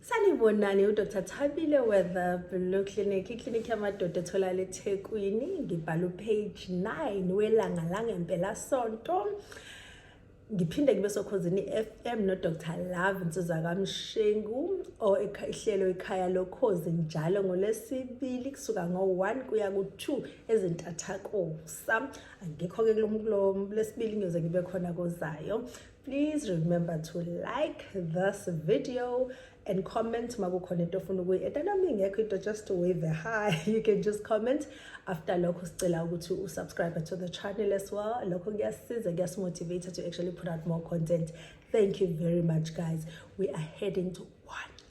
sanibonani udr thabile weather blue clinic iclinic yamadoda etholakala ethekwini ngibhala upage 9 welanga langempelasonto ngiphinde ngibe sokhozini i-fm nodr love nsizwa kamshengu or ihlelo ikhaya lokhozi njalo ngolwesibili kusuka ngo-1 kuya ku-2 ezintathakusa angikho-ke kulesibili ngiyoze ngibe khona kozayo please remember to like this video and comment makukhona into ofuna ukuyi-eda nami ngekho into just wave a high you can just comment after lokho sicela ukuthi usubscribe to the channel as well lokho kuyasiza kuyasimotivate to actually put out more content thank you very much guys we are heading to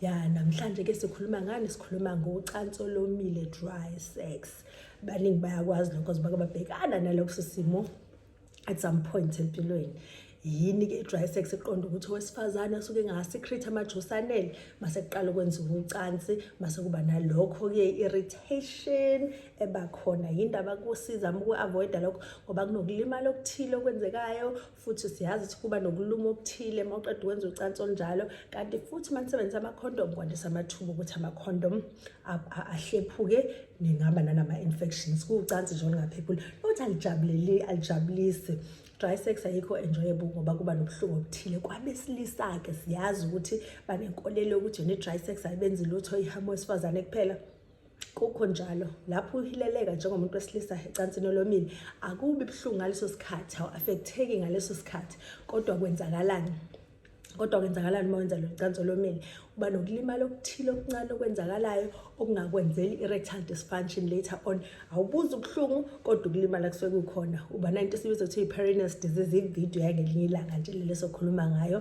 ya namhlanje ke sikhuluma ngani sikhuluma ngocansi olomile dry sex baningi bayakwazi lokho zibake babhekana nalokho simo at some point empilweni yini ke i-dry sex eqonda ukuthi owesifazane asuke engasikhrith amajusi anele mase kuqala ukwenziwa ucansi mase kuba nalokho-ke i-irritation ebakhona yini ndaba kusiza uma uku-avoida lokho ngoba kunokulimala okuthile okwenzekayo futhi siyazi ukuthi kuba nokuluma okuthile uma uqeda ukwenza ucansi olunjalo kanti futhi uma nisebenzisa amakhondomu kwandisa amathuba ukuthi amakhondomu ahlephuke ningaba nanama-infections kuwucansi nje olungaphephuli nokuthi alijabuleli alijabulisi dry sex ayikho enjoyable ngoba kuba nobuhlungu obuthile kwabesilisa-ke siyazi ukuthi banenkolelo yokuthi ne-dry sex ayibenzi lutho ihamo wesifazane kuphela kukho njalo lapho uhileleka njengomuntu wesilisa ecansini olomile akubi buhlungu ngaleso sikhathi awu-afektheki ngaleso sikhathi kodwa kwenzakalani kodwa kwenzakalani uma wenza lolucansi olomile uba nokulimala okuthile okuncane okwenzakalayo okungakwenzeli i-rectal dysfunction later on awubuzi ubuhlungu kodwa ukulimala kusuke kukhona uba nanto esibiza kuthiwa i-perineus disease ividiyo yangelinye ilanga nje lelesokhuluma ngayo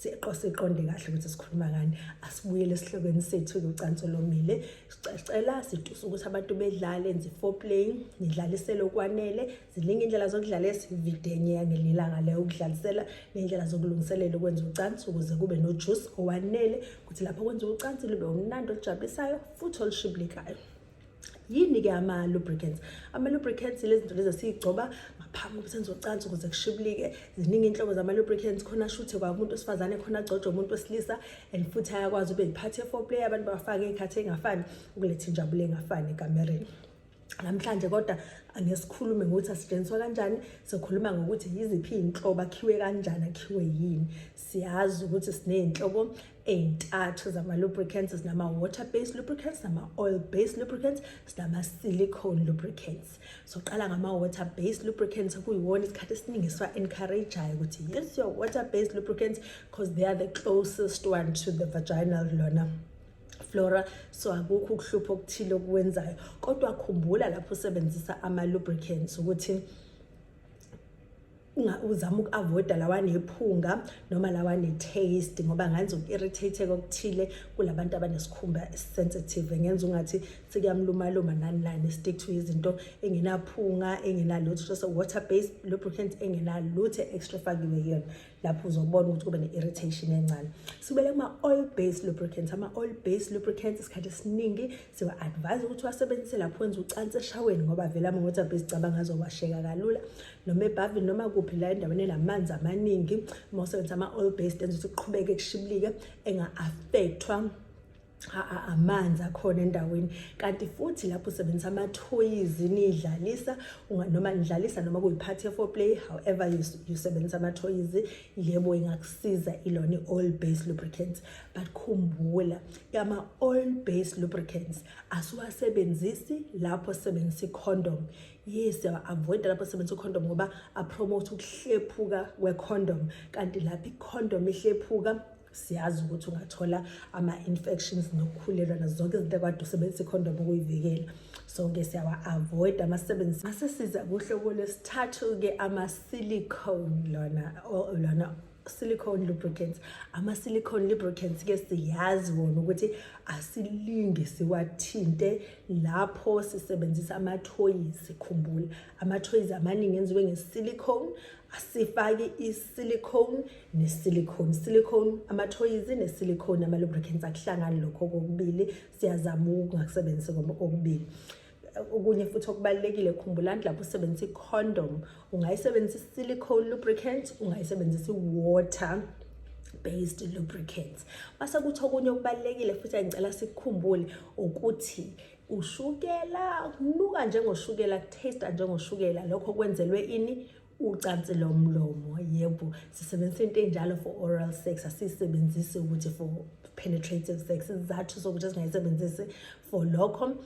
siqonde kahle ukuthi sikhuluma ngani asibuyele esihlokweni sethu kucansi olomile sicela sidusa ukuthi abantu bedlale enze foreplay nidlalisele okwanele ziningi indlela zokudlala esividenye yangelilanga leyo ukudlalisela ney'ndlela zokulungiselela ukwenza ucansi ukuze kube nojuice owanele ukuthi lapho kwenza ucansi lube umnandi olujabulisayo futhi olushibilikayo yini-ke ama-lubricants ama-lubricants lezinto lezi esiyigcoba ngaphambi ukuthi nizocansa ukuze kushibulike ziningi inhlobo zama-lubricants khona shuthe kwakumuntu wesifazane khona agcotshwe umuntu wesilisa and futhi ayakwazi ube yiphathi ye-foreplay abantu bafake iy'khathi ey'ngafani ukuletha injabulo engafani ekamereni namhlanje kodwa angesikhulume ngokuthi asetshenziswa kanjani sikhuluma ngokuthi yiziphi iy'nhlobo akhiwe kanjani akhiwe yini siyazi ukuthi siney'nhlobo ey'ntathu zama-lubricants sinama-water based lubricants nama-oil based lubricants sinama-silicone lubricants soqala ngama-water based lubricants kuyiwona isikhathi esiningi siwa-encourageayo ukuthi yes your water based lubricants because they are the closest one to the vaginal lona flora so akukho ukuhlupha okuthile okwenzayo kodwa khumbula lapho usebenzisa ama-lubricants ukuthi uzama uku-avoida lawa nephunga noma lawa ne-taste ngoba ngenza uku-irritate-eka okuthile kulabantu abanesikhumba esisensitive ngenza ungathi sikuyamlumaluma nani nani stick to izinto engenaphunga engenalutho just water based lubricant engenalutho extra fakiwe yona lapho uzobona ukuthi kube ne-irritation encane sibele kuma-oil based lubricant ama-oil based lubricant isikhathi esiningi siwa-advise ukuthi wasebenzise lapho wenza ucansi eshaweni ngoba vele ama-water based cabanga azowasheka kalula noma ebhavini noma kuphi la endaweni enamanzi amaningi uma usebenzisa ama-oil based enza ukuthi kuqhubeke kushibilike enga-affecthwa amanzi akhona endaweni kanti futhi lapho usebenzisa amathoyizi nidlalisa noma nidlalisa noma kuyiphathi ye-foreplay however usebenzisa amathoyizi yebo ingakusiza ilona i-oil based lubricants but khumbula ama-oil based lubricants asiwasebenzisi lapho sisebenzisa i-condom yes avoida lapho sebenzisa ucondom ngoba apromote ukuhlephuka kwecondom kanti lapho icondom ihlephuka siyazi ukuthi ungathola ama-infections nokukhulelwa nazo zonke izinto ekade usebenzisa icondom ukuyivikela so-ke siyawa-avoida amasebenzisi asesiza kuhloko lwesithathu-ke ama-silicone lona lona silicone lubricants ama-silicone lubricants ke siyazi wona ukuthi asilinge siwathinte lapho sisebenzisa amathoyizi khumbula amathoyizi amaningi enziwe nge-silicone asifake i-silicone ne-silicone silicone amathoyizi ne-silicone ama-lubricants akuhlangani lokho kokubili siyazama ukungakusebenzisi kokubili okunye futhi okubalulekile khumbulani lapho usebenzisa i-condom ungayisebenzisa i-silicone lubricant ungayisebenzisa i-water based lubricants base kuthi okunye okubalulekile futhi engicela sikukhumbule ukuthi ushukela kunuka njengoshukela kutaste njengoshukela lokho kwenzelwe ini ucansi lomlomo yebo sisebenzisa into enjalo for oral sex asisebenzisi ukuthi for penetrative sex izathu sokuthi singayisebenzisi for lokho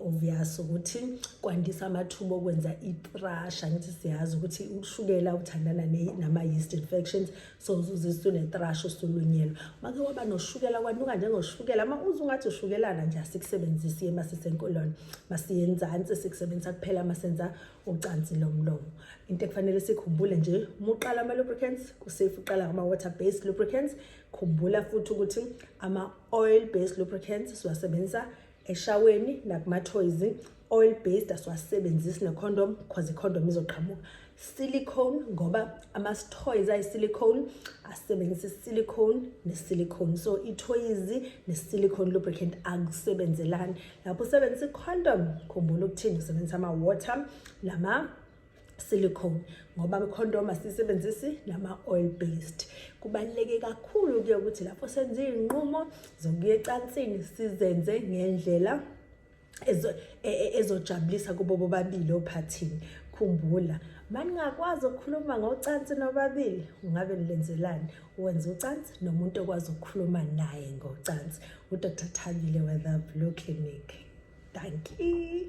obvious ukuthi kwandisa amathuba okwenza itrasha ngithi siyazi ukuthi ushukela uthandana nama-yeast infections so uzuzisa unetrasha usulunyelwa make waba noshukela kwanuka njengoshukela uma uze ungathi ushukelana nje asikusebenzisi ema sisenkolona masiyenzansi sikusebenzisa kuphela masenza ucansi lomlomo into ekufanele sikhumbule nje uma uqala ama-lubricants kusafe uqala ngama-water based lubricants khumbula futhi ukuthi ama-oil based lubricants siwasebenzisa eshaweni nakumathoyizi oil based asiwasebenzisi necondom because icondom izoqhamuka silicone ngoba ama-toys ayisilicone asebenzisa isilicone nesilicone so ithoyizi nesilicone lubricant akusebenzelani lapho usebenzisa i-condom khumbula ukuthini usebenzisa ama-water nama silicone ngoba i-condom asiyisebenzisi nama-oil based kubaluleke kakhulu-ke ukuthi lapho senze iy'nqumo zokuya ecansini sizenze ngendlela e, e, ezojabulisa kubo bobabili ophathini khumbula maningakwazi ukukhuluma ngocansi nobabili ungabe nilenzelani wenza ucansi nomuntu okwazi ukukhuluma naye ngocansi Udr Thabile Weather Blue Clinic. Dankie.